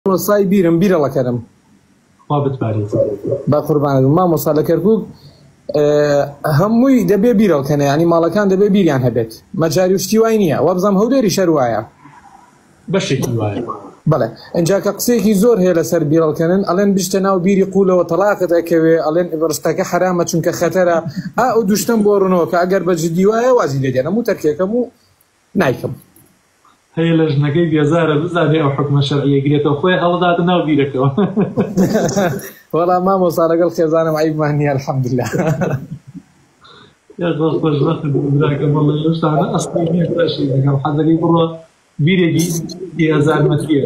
مامۆستای بیرم بیرە ڵەکەرم خوا بتبارێت بە قوربانت بم مامۆستا لە کەرکوک هەمووی دەبێ بیرەڵکەنە ینی ماڵەکان دەبێ بیریان هەبێت مەجاری و شتی وای نییە وابزانام هەولێری شەر وایە بەشێکی وایە بڵێ ئەجا کە قسێکی زۆر هەیە لەسەر بیرەڵکەنن ئەلێن بشتە ناو بیری قولەوە تەلاقت ئەکەوێ ئەلێن ئبرستەکە حرامە چونکە خەتەرە ئا و دوشتم بۆ ڕوونەوە کە ئەگەر بە جدی وایە وازی لێدێنم و تەرکێکەم و نایکەم. هەیە لەژنەکەی بێزارە بزانێ ئەو حکومە شەرعیە گرێتەوە خۆی هەڵداتە ناو بیرەکەوە وەڵا مامۆسا لەگەڵ خێزانم عیبمان نیە الحمدلله حەزەکەی بڕۆ بیرێکی هزار مەتریە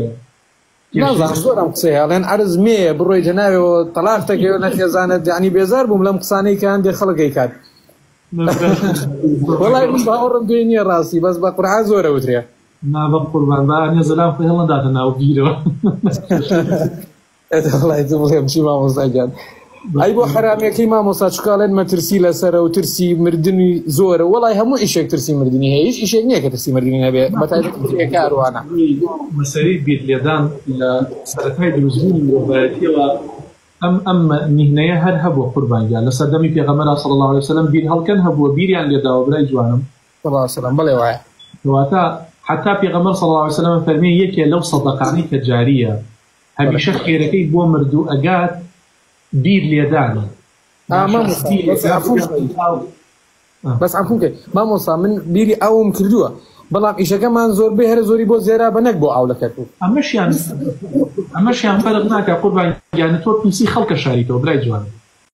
نازانم زۆر ئەم قسەی هەڵێن عەرز مێیە بڕۆیتە ناوێەوە تەلاق دەکەوێت نەخێزانت یعنی بێزار بووم لەم قسانەی کە هەندێک خەڵکەی کات وڵای من باوەڕم پێ نییە ڕاستی بەس بە قورعا زۆرە وترێ نابە قوربان با ئەنێ زەلام خۆی هەڵنداتە ناو بیرەوە ئەتە وڵای بڵێم چی مامۆستاگیان ئەی بۆ حەرامەکەی مامۆستا چکاڵێن مەترسی لەسەرە و ترسی مردنی زۆرە وڵای هەموو ئیشێک ترسی مردنی هەیە هیچ ئیشێک نییە کە ترسی مردنی نەبێ بەتاکاروانە مەسەری بیر لێدان لە سەرەتای دروستبوونی مرۆڤایەتیەوە ئەم ئەم میهنەیە هەر هەبوو قوربانگیان لە سەردەمی پێغەمەرا سەڵ الله عليه وسلم بیر هەڵکەن هەبووە بیریان لێداوە برای جوانم سلام بڵێ وایە واتە حتا پێغەمەر سەڵ الله عليه وسلم فەرمی یەکێ لەو سەدەقانی کە جاریە هەمیشە خێرەکەی بۆ مردوو ئەگات بیر لێدانە بەس عفو بکەی مامۆسا من بیری ئاوم کردووە بەڵام ئیشەکەمان زۆربەی هەرە زۆری بۆ زێرا بە نەک بۆ ئاو لە کەرکوک ئەمەشیان ئەمەشیان فەرق ناکە قوربان گیان تۆ پیسی خەڵکە شاریتەوە برای جوان